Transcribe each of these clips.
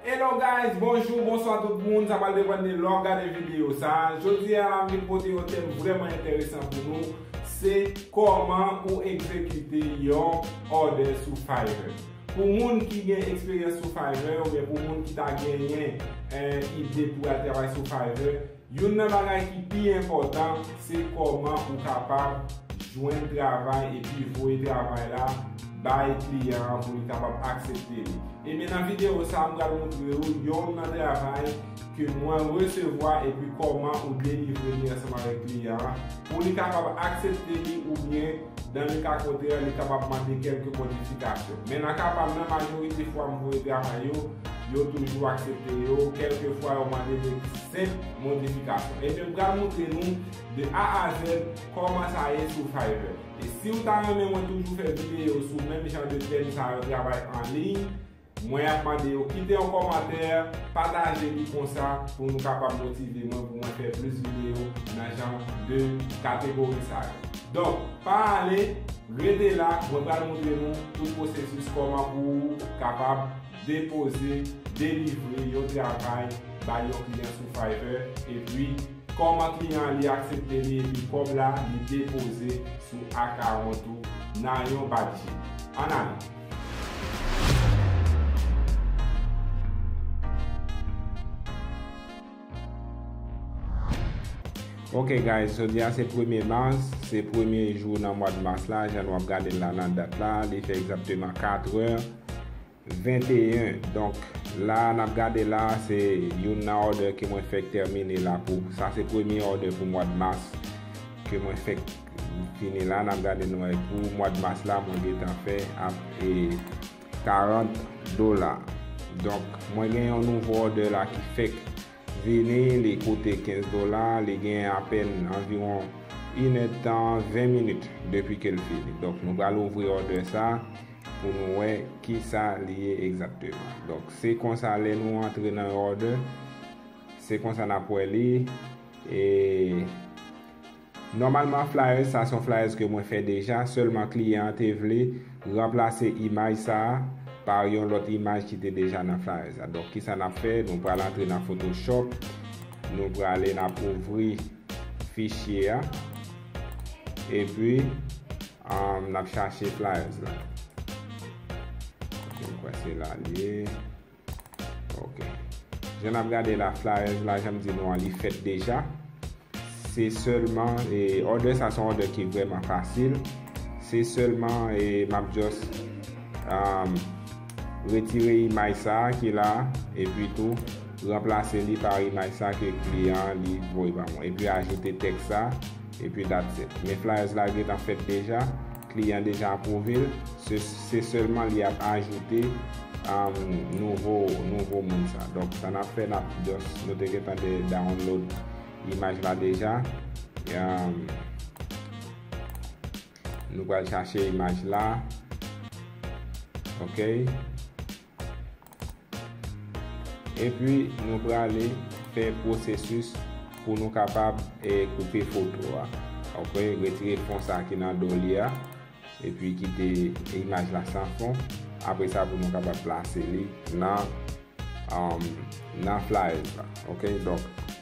Hello guys bonjou bonswa tout moun sa pral depan de lè wap gade video sa jodi a la m vin pote yon tèm vrèman entèresan pou nou se kòman ou egzekite yon òdè sou Fiverr pou moun ki gen eksperyans sou Fiverr oubyen pou moun ki ta genyen ide pou al travay sou Fiverr Youn nan bagay ki pi enpòtan se kòman ou kapab jwenn travay epi voye travay la bay kliyan an pou li kapab aksepte li. Ebyen nan videyo sa m pral moutre ou yon nan travay ke mwen resevwa epi kòman ou delivre li ansanm avèk kliyan an pou li kapab aksepte li oubyen Nan le ka kontrè, li kapab mande kèlke modifikasyon. Men nan ka pa m nan, majorite fwa m voye travay yo, yo toujou aksepte yo, kèlke fwa yo mande de senp modifikasyon. Ebyen m pral moutre nou de A a Z kòman sa ye sou Fiverr. E si w ta renmen mwen toujou fè videyo sou menm jan de tèm sa yo travay anliy, Mwen ap mande yo kite yon kòmantè, pataje li konsa pou nou kapab motive mwen pou mwen fè plis videyo nan jan de kategori sa yo. Donk pa ale, rete la mwen pral moutre nou tout pwosesis kòman pou ou kapab depoze, delivre yon travay bay yon kliyan sou Fiverr epi kòman kliyan an li aksepte li epi kòb la li depoze sou akawont ou nan yon bat je. An ale! Ok guys, jodi a se premye mas, se premye jou nan mwa de mas la, jan nou ap gade la nan dat la, li fè egzakteman 4 è, 21, donk la nan ap gade la, se youn nan òdè ke mwen fèk tèmine la pou, sa se premye òdè pou mwa de mas, ke mwen fèk. Fini la nap gade nou wè pou mwad mas la mwen gentan fè ap 40 dola donk mwen gen yon nouvo òdè la ki fèk vini li koute 15 dola li gen apèn anviwon 1 èd tan 20 minit depi kel fini donk nou pral ouvri òdè sa pou nou wè kisa li ye egzakteman donk se konsa lè nou antre nan yon òdè se konsa nap wè li e. Nòmalman flyers sa son flyers ke mwen fè deja sèlman kliyan an te vle ranplase imaj sa par yon lòt imaj ki te deja nan flyers la donk kisa nap fè nou pral antre nan photoshop nou prale nap ouvri fichye a epi nap chache flyers la ok mkwè se la liye. Ok. Jan nap gade la flyers la janm di nou an li fèt deja. Se sèlman e order sa son order ki vreman fasil. Se sèlman e map just um, retire imaj sa ki la e pi tou ranplase li pa imaj sa ke kliyan li voye ba mwen. E pi ajoute tèks sa e pi that's it. Men flyers la gentan fèt deja. Kliyan deja apwouve l, se sèlman li ap ajoute nouvo moun sa. Donk sa n ap fè, nou te gentan download imaj la deja. Nou pral chache imaj la. Ok. Epi nou prale fè pwosesis pou nou kapab koupe foto a. Ok, retire fon sa ki nan do li a. Epi kite imaj la san fon. Apre sa pou nou kapab plase li nan nan flyers la. Ok, donk.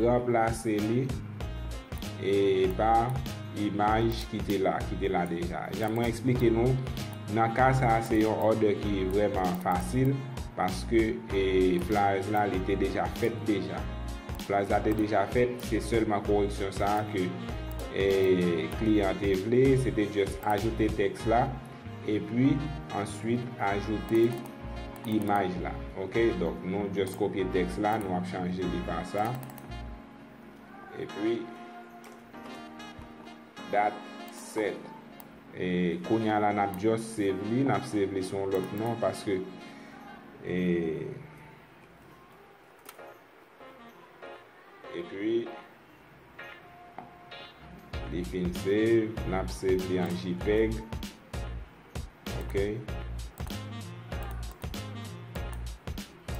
Ranplase li e pa imaj ki te la, ki te la deja. Jan mwen eksplike nou, nan ka sa a se yon òdè ki vrèman fasil paske e flyers la li te deja fèt deja. Flyers la te deja fèt, se sèlman koreksyon sa a ke e kliyan te vle, se te just ajoute tèks la. Epi answit ajoute imaj la ok donk nou just kopye teks la nou ap chanje li pa sa epi dat set e kounya la nap just save li nap save li sou yon lot non paske e. Epi li fin save, nap save li an jpeg. Ok.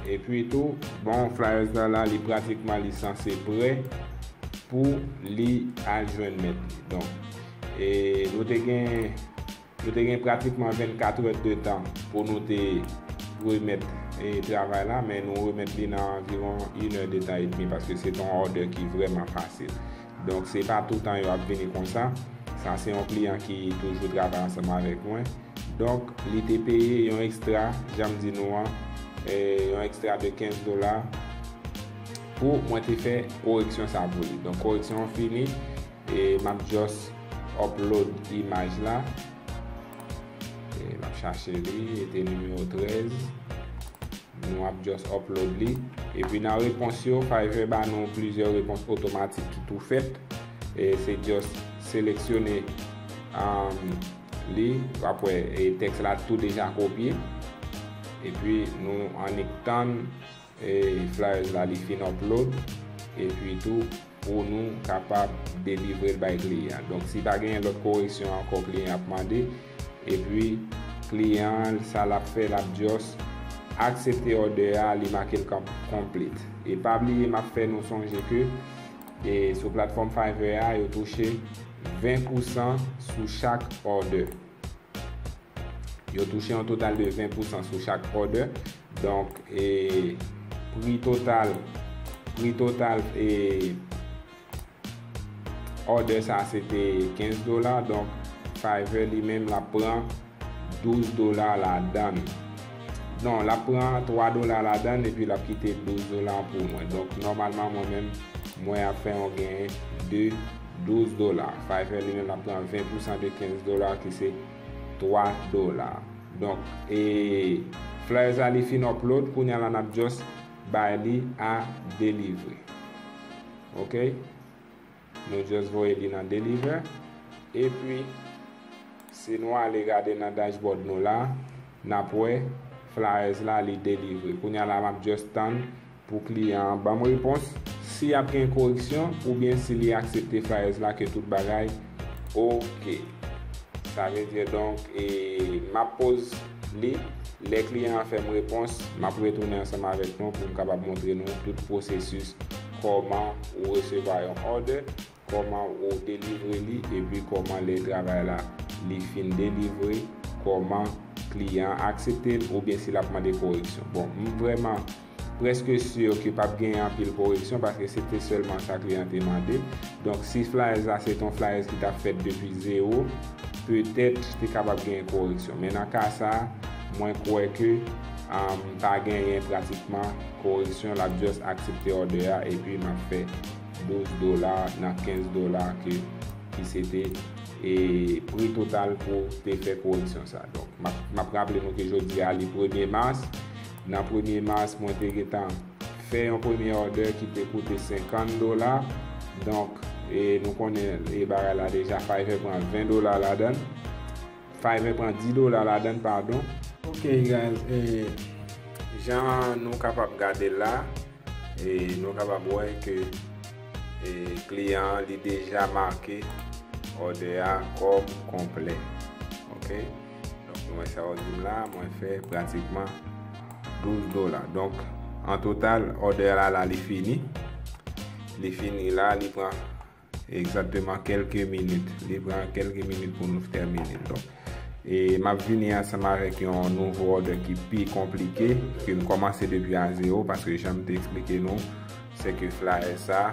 Epi tou, bon flyers la la li pratikman li sanse pre pou li al jwenn mèt li. Donk, e nou te gen Nou te gen pratikman 24 è de tan pou nou te remèt travay la, men nou remèt li nan anviwon yn è de tan edmi paske se te yon òdè ki vrèman fasil. Donk se pa toutan yo ap vini konsa. Sa se yon kliyan ki toujou travay ansanm avèk mwen. Donk li te peye yon ekstra, jan m di nou an, yon ekstra de 15 dola pou mwen te fè koreksyon sa pou li. Donk koreksyon an fini. E map just upload imaj la. E map chache li, e te numero 13. Nou ap just upload li. E pi nan repons yo, Fiverr ba nou plizyè repons otomatik ki tou fèt. E se just seleksyone li, wap wè e teks la tou deja kopye. E pi nou annik tann. Flyers la li fin upload epi tou pou nou kapab delivrel bay kliyan donk si pa genyen lòt koreksyon ankò kliyan ap mande epi kliyan an sa lap fè lap just aksepte òdè a li makel kòm complete e pa bliye map fè nou sonje ke sou platfòm Fiverr a yo touche 20 pousan sou chak òdè. Yo touche yon total de 20 pousan sou chak order. Donk, e, pri total, pri total, e, order sa se te 15 dola. Donk, Fiverr li menm la pran 12 dola la dan. Non, la pran 3 dola la dan epi la kite 12 dola pou mwen. Donk, normalman mwen menm, mwen ap fè yon gen de. 12 dola. Fiverr li menm ap pran 20 pousan de 15 dola ki se 3 dola. Donk e flyers la li fin upload kounya la nap just bay li a deliver. Ok. Nou just voye li nan deliver. Epi si nou ale gade nan dashboard nou la nap wè flyers la li deliver. Kounya la map just tann Pou kliyan an banm repons si ap gen koreksyon oubyen si li aksepte flyers la ke tout bagay ok. Sa vle di donk e map poz li lè kliyan an fèm repons map retounen ansanm avèk nou poum kapab montre nou tout pwosesis kòman ou resevwa yon order. Koman ou delivre li epi koman lè travay la li fin delivre koman kliyan an aksepte l oubyen si lap mande koreksyon bon m vrèman prèske sur ke pap genyen anpil koreksyon paske se te sèlman sa kliyan an te mande donk si flyers la se te yon flyers ki tap fèt depi zero petèt te kapab genyen koreksyon men nan ka sa mwen kwè ke pa genyen pratikman koreksyon lap just aksepte òdè a epi map fè. 12 dola nan 15 dola ke ki se te e pri total pou te fè koreksyon sa. Donk, m ap raple nou ke jodi a li premye mas. Nan premye mas, mwen te gentan fè yon premye òdè ki te koute 50 dola. Donk, e nou konnen e bagay la deja, Fiverr pran 20 dola ladan l. Fiverr pran 10 dola ladann padon. Ok guys e jan nou kapab gadel la e nou kapab wè ke e kliyan an li deja make òdè a kòm konplè ok donk nou wè sa yo dim la mwen fè pratikman 12 dola donk an total òdè la la li fini li fini la li pran Exactement kelke minit. Li pran kelke minit pou nou tèmine. Donk, e map vini ansanm avèk yon nouvo order ki pi konplike, ke m kòmanse depi a zero, paske jan m te eksplike nou, se ke flyer sa,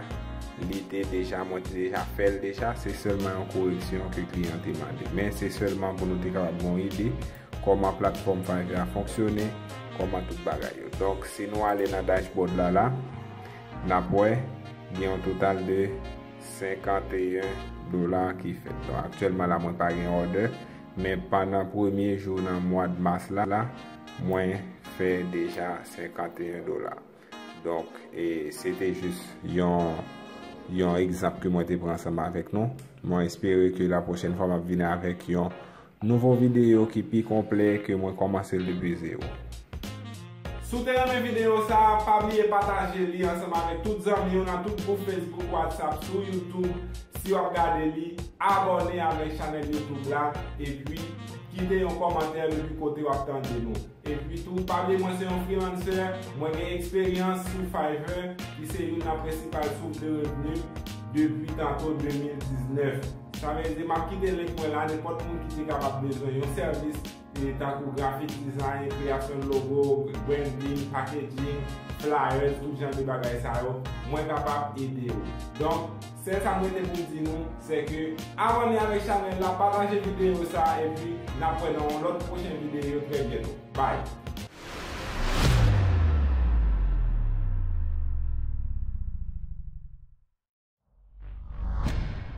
li te deja, mwen te deja fè l deja, se sèlman yon koreksyon ke kliyan an te mande. Men se sèlman pou nou te kapab gen yon ide, kòman platfòm Fiverr a fonksyone, kòman tout bagay yo. Donk, si nou ale nan dashboard la la, N ap wè, gen yon total de 51 dola ki fèt. Donk aktyèlman la mwen pa gen òdè, men pandan premye jou nan mwad mas la, mwen fè deja 51 dola. Donk se te jis yon yon egzanp ke mwen te pran ansanm avèk nou. Mwen espere ke lapwochèn fwa m ap vini avèk yon Nouvo videyo ki pi konplè ke mwen kòmanse l depi zewo. Si w te renmen videyo sa a, pa bliye pataje li ansanm avèk tout zanmi w nan tout gwoup Facebook, WhatsApp, sou YouTube si w ap gade li, abòne avèk chanèl YouTube la, epi kite yon kòmantè depi kote w ap tande nou. Epi tou, pa bliye mwen se yon freelancer, mwen gen eksperyans sou Fiverr ki se youn nan prensipal source de revenu depi tanto 2019. Sa vle di, map kite link mwen la, nenpòt moun ki te kapab bezwen yon sèvis tankou graphic design, kreyasyon de logo, branding, packaging, flyers, tout jan de bagay sa yo, mwen kapab ede ou. Donk. Sèl sa m rete pou m di nou, sè ke abòne avèk chanèl la, pataje videyo sa a epi n ap wè nan yon lòt pwochen videyo trè byento. Bye!